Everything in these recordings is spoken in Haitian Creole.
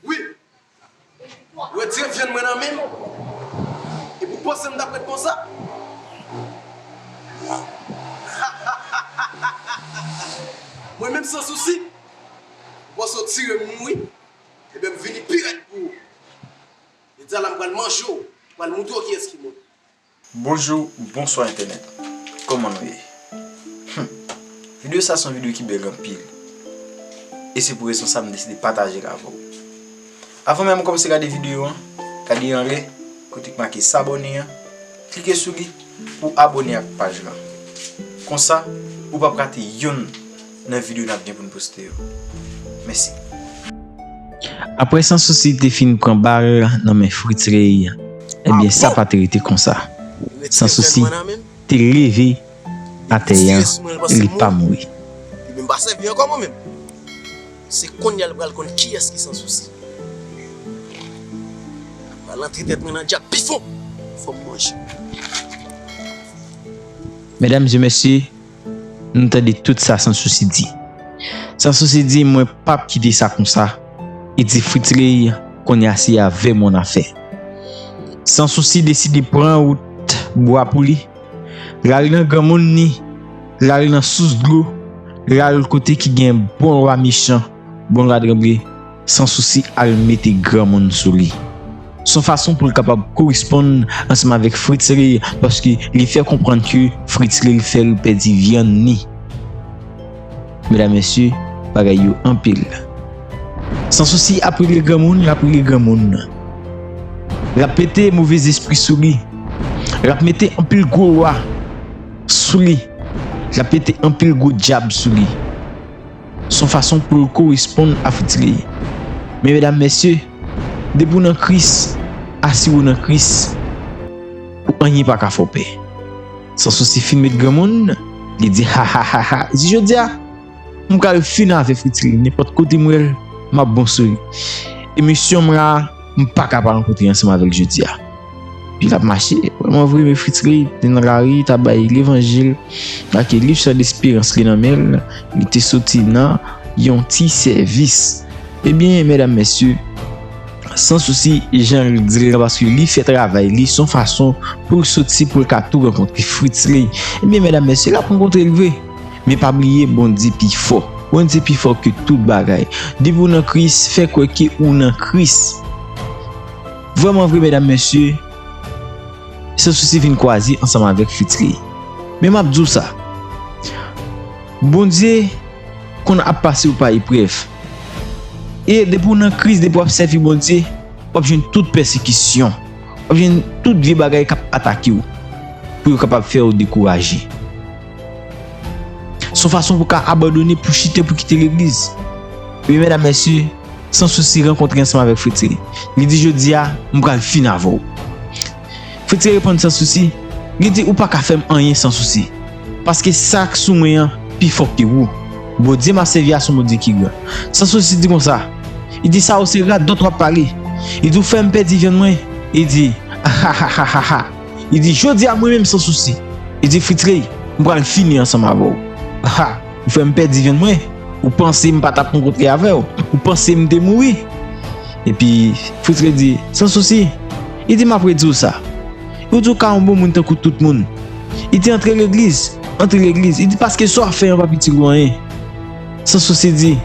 Wi! Ou retire vyann mwen nan men m, epi ou panse m t ap ret konsa? Hahahahahaha! Mwen menm san sousi? Ou panse ou tire m mouri? Enben m vini pi rèd pou ou! Medyana m pral manje w, m pral montre w kiyès ki mwen. Bonjou bonswa entènèt kòman nou ye humm video sa son video ki bèl anpil e se pou rezon sa m deside patajel avèw avan menm ou kòmanse gade video an gade anlè kote ki make s'abonner an klike sou li pou abone ak paj lan konsa ou pap rate yonn nan video nap gen poun poste yo. Mèsi. Aprè San Souci te fin pran bal nan men Fritz Rey, ebyen sa pa te rete konsa. San Souci te leve atè a e li pa mouri. Medam e mesye! M tande tout sa Sansousi di. Sansousi di mwen pap kite sa konsa e di Fritzley konnya se avè m w nan afè. Sansousi deside pran wout bwa pou li, l al nan granmoun li, l al nan sous dlo, l al kote ki gen bon lwa mechan. Bon gad Ranbir san sousi al mete granmoun sou li. Son fason poul kapab koresponn ansanm avèk Fritzley paske li fè konprann ke Fritzley fèl pèdi vyann ni. Medam mesye bagay yo anpil. San sousi ap regle granmoun lap regle granmoun. Lap mete move zespri sou li. Lap mete anpil gwo lwa sou li. Lap mete anpil gwo dyab sou li. Son fason pou l koresponn a fouti li. Men medam mesye, depi w nan Kris, asire w nan Kris pou anyen pa ka fè w pè. San sousi fin met granmoun, li di hahahaha si jodi a m pral fin avè fouti li nenpòt kote m wè l m ap bon sou li. Emisyon m la. M paka pa rankontre ansanm avèl jodi a. Li tap mache, wè mwen vre me fritri, li nan lari, li tap bay levanjil, make liv chan desperans li nan menl, li te soti nan yon ti sèvis. Ebyen, mèdam mèsye, san sousi jan li dil nan paske li fè travay li son fason poul soti poul ka tou rankontre fritri. Ebyen mèdam mèsye lap rankontrel vre. Men pa bliye Bondye pi fò. Bondye pi fò ke tout bagay. Depi ou nan Kris, fè kwè ke ou nan Kris. Vrèman vre medam mesye, San Sousi vin kwaze ansanm avèk Fitri. Men map di w sa, Bondye konn ap pase w pa eprèv. E depi ou nan Kris, depi wap sèvi Bondye, wap jwenn tout pèsekisyon, wap jwenn tout vye bagay kap atake w pou yo kapab fè w dekouraje. Son fason pou ka abandone pou chite pou kite legliz. Wi medam mesye, San Sousi rankontre ansanm avèk Fritzi. Li di jodia, m pral fin avè w. Fritzi reponn San Sousi, li di ou pa ka fè m anyen San Sousi. Paske sa k sou mwen an pi fò ke ou. Bondye m ap sèvi a son Bondye ki gran. San Sousi di konsa, li di sa ou se radòt w ap pale. Li di ou fè m pèdi vyann mwen. Li di, Ahahahahahah. Li di, Jodi a mwen menm san sousi. Li di, Fritz-Ray, m pral fini ansanm avè w. Ha! Ou fè m pèdi vyann mwen. Ou panse m pa t ap rankontre avè w? Ou panse m te mouri? Epi, Fritz-Ray di, San sousi. Li di, M ap redi w sa. Yo di w ka yon bon moun tankou tout moun. Li di, Antre legliz. Antre legliz. Li di, Paske sa w ap fè an p ap itil ou anyen. San sousi di,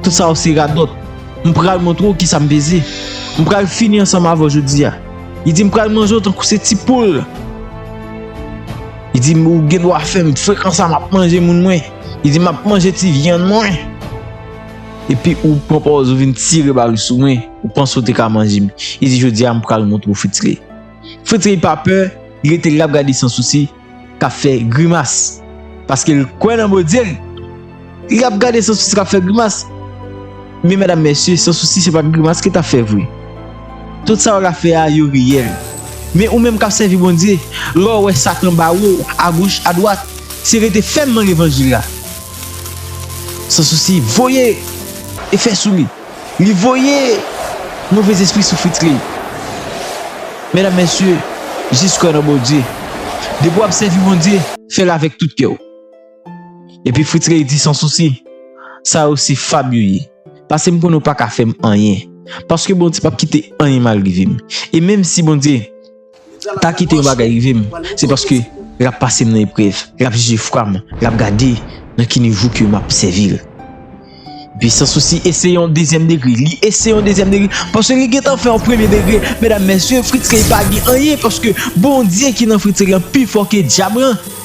Tout sa yo se radòt. M pral montre w ki sa m peze. M pral fini ansanm avè w jodi a. Li di m pral manje w tankou se ti poul. Li di m ou gen dwa fè m frekan sa map manje moun mwen. Li di map manje ti vyann mwen. Epi ou pran pòz ou vin tire bal sou mwen. Ou panse ou te ka manje m. Li di jodi a m pral montre w Fritzley. Fritzley pa pè, li rete la ap gade san sousi. k ap fè grimas paske l kwè nan Bondye l, li ap gade San Sousi k ap fè grimas. Men medam mesye, San Sousi se pa t grimas ke l t ap fè vre. Tout sa yo la fè a, yo reyèl. Men ou menm k ap sèvi Bondye, lè w wè Satan bare w agoch adwat, se rete fèm nan levanjil la. San Sousi voye efè sou li. Li voye move zespri sou fritz li. Medam mesye jis kwè nan bondye depi wap sèvi bondye fèl avèk tout kèw epi fritz ley di san sousi sa yo se fab yo ye pasem konnen ou paka fèm anyen paske bondye pap kite anyen mal rivem e menm si bondye pa kite yon bagay rive m se paske l ap pase m nan eprèv l ap jije fwa m l ap gade nan ki nivo ke m ap sèvi l epi san sousi eseye yon dezyèm degre li eseye yon dezyèm degre paske li gentan fè yon premye degre medam mesye fritz ley pa gen anyen paske bondye ki nan fritz ley lan pi fò ke dyab lan.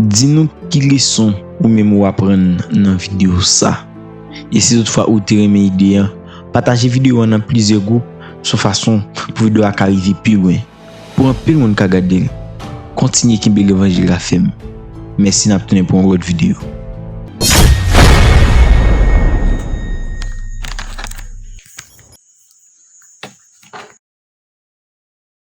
Di nou ki leson ou menm ou aprann nan video sa. E si tout fwa ou te renmen ide an, pataje video an nan plizyè gwoup sou fason pou video a ka rive pi lwen, pou anpil moun ka gade l. Kontinye kenbe levanjil la fèm. Mèsi nap tounen pou yon lòt video.